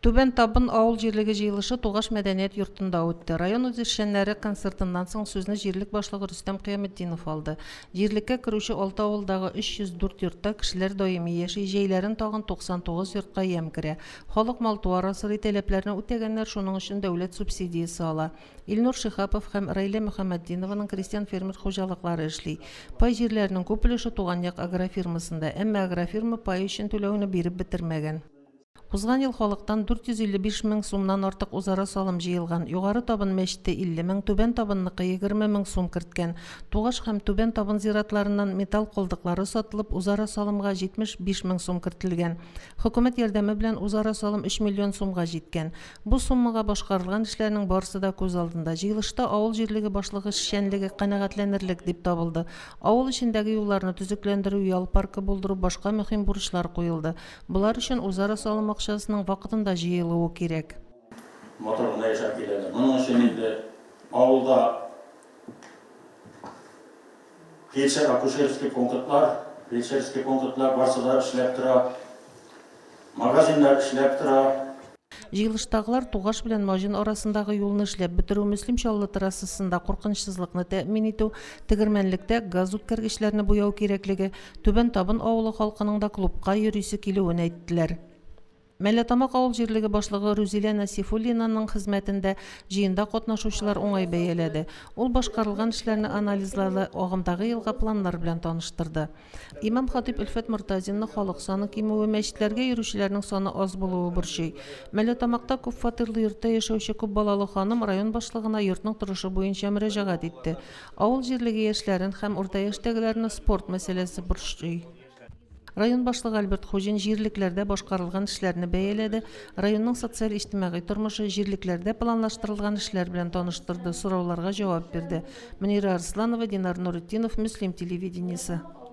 Түбән Табын авыл җирлеге җыелышы Тугаш мәдәният йортында үтте. Район үзешчәннәре концертыннан соң сүзне җирлек башлыгы Рөстәм Кыяметдинов алды. Җирлеккә керүче алты авылдагы 304 йортта кешеләр даими яши, җәйләрен тагын 99 йортка ямь керә. Халык мал-туар асрый, таләпләрне үтәгәннәр, шуның өчен дәүләт субсидиясе ала. Илнур Шиһапов һәм Раилә Мөхәммәтдинованың крестьян-фермер хуҗалыклары эшли. Пай җирләренең күп өлеше Туган як агрофирмасында, әмма агрофирма пай өчен түләүне биреп бетермәгән. Узган ел халыктан 455 мең сумнан артык узара салым җыелган. Югары Табын мәчете 50 мең, Түбән Табынныкы 20 мең сум керткән. Тугаш һәм Түбән Табын зиратларыннан металл калдыклары сатылып, узара салымга 75 мең сум кертелгән. Хөкүмәт ярдәме белән узара салым 3 миллион сумга җиткән. Бу суммага башкарылган эшләрнең барысы да күз алдында. Җыелышта авыл җирлеге башлыгы эшчәнлеге канәгатьләнерлек дип табылды. Авыл эчендәге юлларны төзекләндерү, ял паркы булдыру, башка мөһим бурычлар куелды. Болар өчен үзара салым акчасының вакытында җыелуы кирәк. Матур гына яшәп киләләр. Моның өчен инде авылда фельдшер-акушерский пунктлар, фельдшерский пунктлар барсы да эшләп тора. Магазиннар эшләп тора. Җыелыштагылар Тугаш белән Маҗын арасындагы юлны эшләп бетерү, Мөслим Чаллы трассасында куркынычсызлыкны тәэмин итү, Тегермәнлектә газ үткәргечләрне буяу кирәклеге, Түбән Табын авылы халкының да клубка йөрисе килүен әйттеләр. Мәләтамак авыл җирлеге башлыгы Рүзилә Насифуллинаның хезмәтен дә җыенда катнашучылар уңай бәяләде. Ул башкарылган эшләрне анализлады, агымдагы елга планнар белән таныштырды. Имам-хатыйп Өлфәт Мортазинны халык саны кимүе, мәчетләргә йөрүчеләрнең саны аз булуы борчый. Мәләтамакта күп фатирлы йортта яшәүче күп балалы ханым район башлыгына йортның торышы буенча мөрәҗәгать итте. Авыл җирлеге яшьләрен һәм урта яшьтәгеләрне спорт мәсьәләсе борчый. Район башлыгы Альберт Хуҗин җирлекләрдә башкарылган эшләрне бәяләде, районның социаль-иҗтимагый тормышы, җирлекләрдә планлаштырылган эшләр белән таныштырды, сорауларга җавап бирде. Мөнирә Арсланова, Динар Нуретдинов, Мөслим телевидениесе.